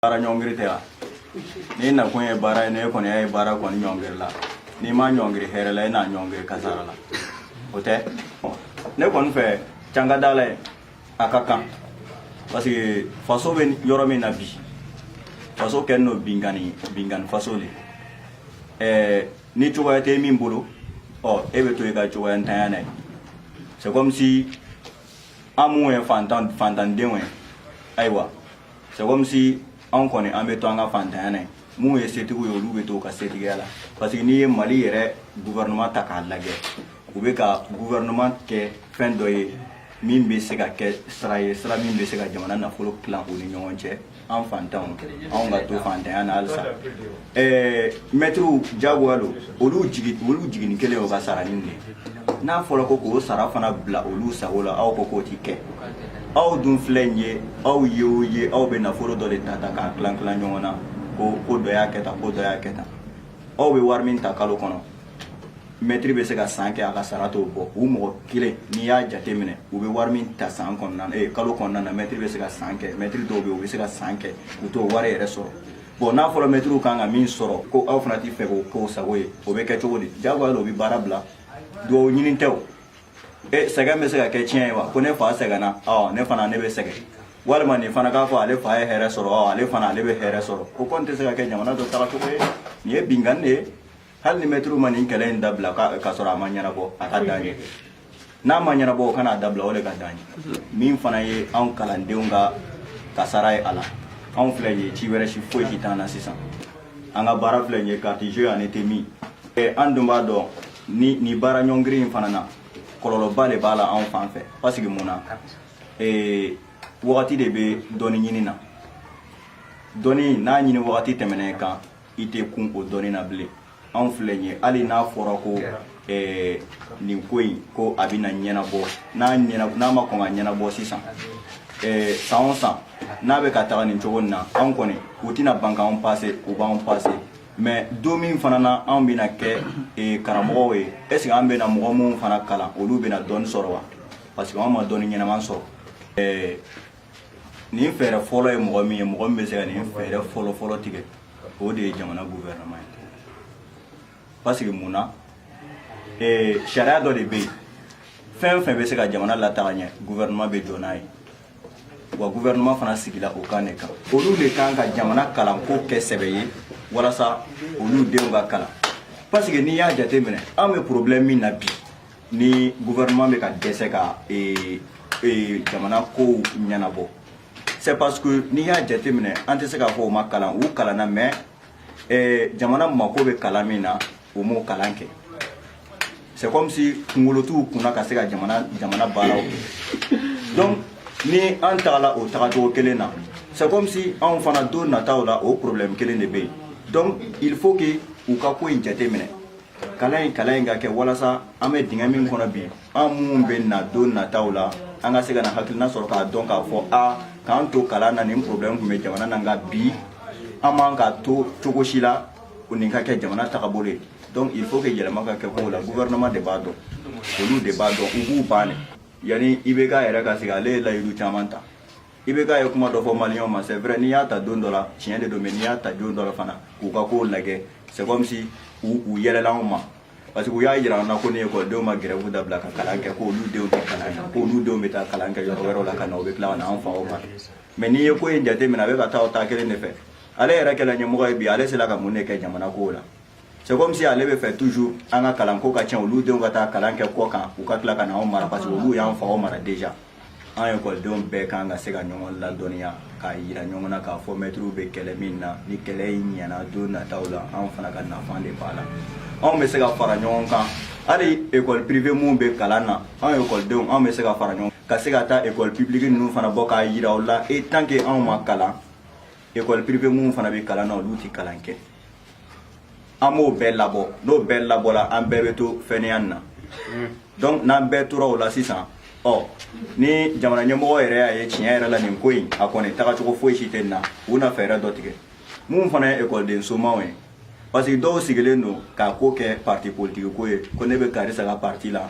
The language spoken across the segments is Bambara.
baara ɲɔngiri tɛ wa n'i nakun ye baara ye ne kɔni y'a ye baara kɔni ɲɔngiri la n'i ma ɲɔngiri hɛrɛ la i na ɲɔngiri kasara la o tɛ ne kɔni fɛ can ka d'Ala ye a ka kan parce que faso bɛ yɔrɔ min na bi faso kɛlen don binkanni binkanni faso de ɛɛ ni cogoya tɛ min bolo ɔ e bɛ to i ka cogoyantanya na ye c'est comme si an minnu ye fantan fantandenw ye ayiwa C'est comme si anw kɔni an bɛ to an ka fantanya na ye minnu ye setigiw ye olu bɛ to u ka setigiya la parce que n'i ye mali yɛrɛ gouvernement ta k'a lajɛ u bɛ ka gouvernement kɛ fɛn dɔ ye min bɛ se ka kɛ sira ye sira min bɛ se ka jamana nafolo tilan u ni ɲɔgɔn cɛ an fantanw anw ka to fantanya na halisa Ɛɛ mɛtiriw jagoya don olu jigi nin kelen o ka sara nin n'a fɔra ko k'o sara fana bila olu sago la aw ko k'o tɛ kɛ aw dun filɛ nin ye aw ye o ye aw bɛ nafolo dɔ de ta ta k'a tila tila ɲɔgɔn na ko ko dɔ y'a kɛ tan ko dɔ y'a kɛ tan aw bɛ wari min ta kalo kɔnɔ mɛtiri bɛ se ka san kɛ a ka sara t'o bɔ u mɔgɔ kelen n'i y'a jate minɛ u bɛ wari min ta san kɔnɔna kalo kɔnɔna na mɛtiri bɛ se ka san kɛ mɛtiri dɔw bɛ u bɛ se ka san kɛ u t'o wari yɛrɛ sɔrɔ bon n'a fɔra mɛtiriw kan ka min sɔrɔ ko aw fana t'i fɛ k'o k'o sago ye o bɛ kɛ cogo di jagoya la o bɛ baara bila dɔ ɲini tɛ o e eh, sɛgɛn bɛ se ka kɛ ciyɛn ye wa ko ne fa sɛgɛnna ɔ ne fana ne bɛ sɛgɛn walima nin fana k'a fɔ ale fa ye hɛrɛ sɔrɔ ɔ ale fana ale bɛ hɛrɛ sɔrɔ o kɔni tɛ se ka kɛ jamana dɔ tagacogo ye nin ye binkanni de ye hali ni mɛtiriw ma nin kɛlɛ in dabila k'a sɔrɔ a ma ɲɛnabɔ a ka d'an ye n'a ma ɲɛnabɔ o kana a dabila o de ka d'an ye min fana ye anw kalandenw ka kasara ye a la anw filɛ ye ci wɛrɛ si foyi si t'an na sisan an ka baara filɛ ye carte jeu ani te min an dun b'a dɔn ni ni baara ɲɔngiri in fana na kɔlɔlɔba de b'a la anw fan fɛ parce que mun na wagati de bɛ dɔnni ɲini na dɔnni n'a ɲini wagati tɛmɛna i kan i tɛ kun o dɔnni na bilen anw filɛ nin ye hali n'a fɔra ko eh, nin ko in ko a bɛna ɲɛnabɔ n'a ɲɛna n'a ma kɔn ka ɲɛnabɔ sisan eh, san o san n'a bɛ ka taga nin cogo nin na anw kɔni u tɛna ban k'anw pase u b'anw pase mais don min fana na anw bɛna kɛ eh, karamɔgɔw ye est ce que an bɛna mɔgɔ minnu fana kalan olu bɛna dɔnni sɔrɔ wa parce que anw ma dɔnni ɲɛnama sɔrɔ eh, nin fɛɛrɛ fɔlɔ ye mɔgɔ min ye mɔgɔ min bɛ se ka nin fɛɛrɛ fɔlɔ fɔlɔ tigɛ o de ye jamana gouvernement ye parce que mun na ee sariya dɔ de bɛ yen fɛn fɛn bɛ se ka jamana lataga ɲɛ gouvernement bɛ jɔ n'a ye wa gouvernement fana sigila o kan de kan olu de kan ka jamana kalanko kɛ sɛbɛ ye walasa olu denw ka kalan parce que n'i y'a jateminɛ an bɛ problème min na bi ni gouvernement bɛ ka dɛsɛ ka ee, ee, jamana kow ɲɛnabɔ c'est parce que n'i y'a jateminɛ an tɛ se k'a fɔ u ma kalan u kalanna mais ee, jamana mako bɛ kalan min na u m'o kalan kɛ c'est comme si kunkolo t'u kunna ka se ka jamana jamana baaraw kɛ donc ni an tagala o tagacogo kelen na c'est comme si anw fana don nataw la o problème kelen de bɛ yen donc il faut que u ka ko in jateminɛ kalan in kalan in ka kɛ walasa an bɛ dingɛ min kɔnɔ bi an minnu bɛ na don nataw la an ka se ka na hakilina sɔrɔ k'a dɔn k'a fɔ a k'an to kalan na nin problème tun bɛ jamana na nka bi an man ka to cogo si la o nin ka kɛ jamana tagabolo ye donc il faut que yɛlɛma ka kɛ kow la gouvernement de b'a dɔn olu de b'a dɔn u b'u ban de yanni ibk yɛrɛ ka sigi ale ye layidu caman ta ibk ye kuma dɔ fɔ maliyɛnw ma c'est vrai n'i y'a ta don dɔ la tiɲɛ de don mais n'i y'a ta don dɔ la fana k'u ka kow lajɛ c'est comme si u u yɛlɛla anw ma parce que u y'a jira an na ko ni ekɔlidenw ma gɛrɛfu dabila ka kalan kɛ k'olu denw tɛ kalan kɛ k'olu denw bɛ taa kalan kɛ yɔrɔ wɛrɛw la ka na u bɛ tila ka na an faw ma mais n'i ye ko in jate minɛ a bɛ ka taa o taa kelen de fɛ ale yɛrɛ kɛla ɲɛmɔgɔ ye bi ale sera ka mun de kɛ jamana kow la c'est comme si ale bɛ fɛ toujours an ka kalanko ka tiɲɛ olu denw ka taa kalan kɛ kɔ kan u ka tila ka na anw mara parce que olu y'an faw mara déjà an ekɔlidenw bɛɛ kan ka se ka ɲɔgɔn ladɔnniya k'a yira ɲɔgɔn na k'a fɔ mɛtiriw bɛ kɛlɛ min na ni kɛlɛ in ɲɛna don nataw la anw fana ka nafa de b'a la anw bɛ se ka fara ɲɔgɔn kan hali ekɔli pirive minnu bɛ kalan na anw ekɔlidenw anw bɛ se ka fara ɲɔgɔn ka se ka taa ekɔli pibuliki ninnu fana bɔ k'a yira u la e tant que anw ma kalan ekɔli pirive minnu fana bɛ kalan na olu tɛ kalan kɛ an b'o bɛɛ labɔ n'o bɛɛ labɔla an bɛɛ bɛ to fainéant na donc n'an bɛɛ tora o la sisan ɔ ni jamana ɲɛmɔgɔ yɛrɛ y'a ye tiɲɛ yɛrɛ la nin ko in a kɔni tagacogo foyi si tɛ nin na u na fɛɛrɛ dɔ tigɛ minnu fana ye ekɔliden somaw ye parce que dɔw sigilen don k'a ko kɛ parti politiki ko ye ko ne bɛ karisa ka parti la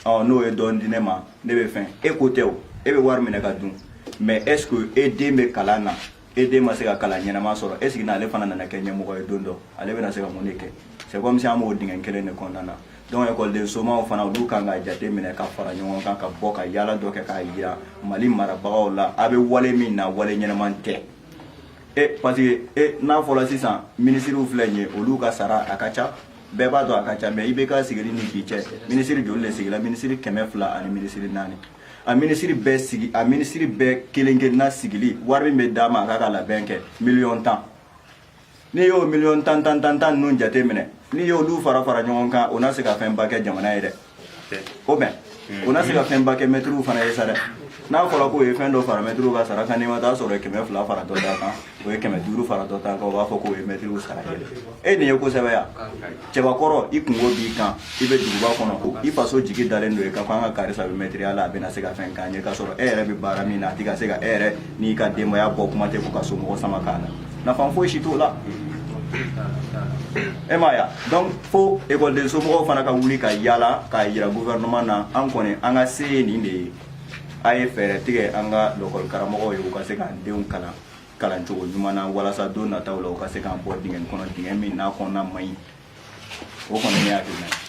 ɔ n'o ye dɔɔni di ne ma ne bɛ fɛn e ko tɛ o e bɛ wari minɛ ka dun mais est ce que e den bɛ kalan na e den ma se ka kalan ɲɛnama sɔrɔ est ce que n'ale fana nana kɛ ɲɛmɔgɔ ye don dɔ ale bɛna se ka mun de kɛ c'est comme si an b'o dingɛ kelen de kɔnɔna na donc ekɔliden somaw fana olu kan ka jate minɛ ka fara ɲɔgɔn kan ka bɔ ka yaala dɔ kɛ k'a yira mali marabagaw la a bɛ wale min na wale ɲɛnaman tɛ e parce que e n'a fɔla sisan minisiriw filɛ nin ye olu ka sara a ka ca bɛɛ b'a dɔn a ka ca mais ibk sigili ni bi cɛ minisiri joli de sigila minisiri kɛmɛ fila ani minisiri naani a minisiri bɛɛ sigi a minisiri bɛɛ kelen kelenna sigili wari min bɛ d'a ma a k'a ka labɛn kɛ miliyɔn tan n'i y'o miliyɔn tan tan tan tan ninnu jate minɛ n'i y'olu fara fara ɲɔgɔn kan o na se ka fɛnba kɛ jamana ye dɛ o bɛn o na se ka fɛnba kɛ mɛtiriw fana ye sa dɛ n'a fɔra k'o ye fɛn dɔ fara mɛtiriw ka sara kan n'i ma taa sɔrɔ o ye kɛmɛ fila fara dɔ ta kan o ye kɛmɛ duuru fara dɔ ta kan o b'a fɔ k'o ye mɛtiriw sara yɛlɛnnen ye kosɛbɛ yan cɛbakɔrɔ i kunko b'i kan i bɛ duguba kɔnɔ ko i faso jigi dalen don i kan ko an ka karisa bɛ mɛtiriya la a bɛna se ka fɛn k'an ye k'a sɔrɔ e yɛrɛ bɛ baara min na a tɛ ka se ka e yɛrɛ n'i ka denbaya bɔ kuma tɛ fo ka somɔgɔ sama k'a la nafa foyi si t'o la e m'a ye donc fo ekɔliden somɔgɔw fana ka wuli ka yaala k'a yira gouvernement na an kɔni an ka se ye nin de ye a ye fɛɛrɛ tigɛ an ka lakɔli karamɔgɔw ye u ka se k'an denw kalan kalan cogo ɲuman na walasa don nataw la u ka se k'an bɔ dingɛn kɔnɔ dingɛn min n'a kɔnɔna man ɲi o kɔni ne hakilina ye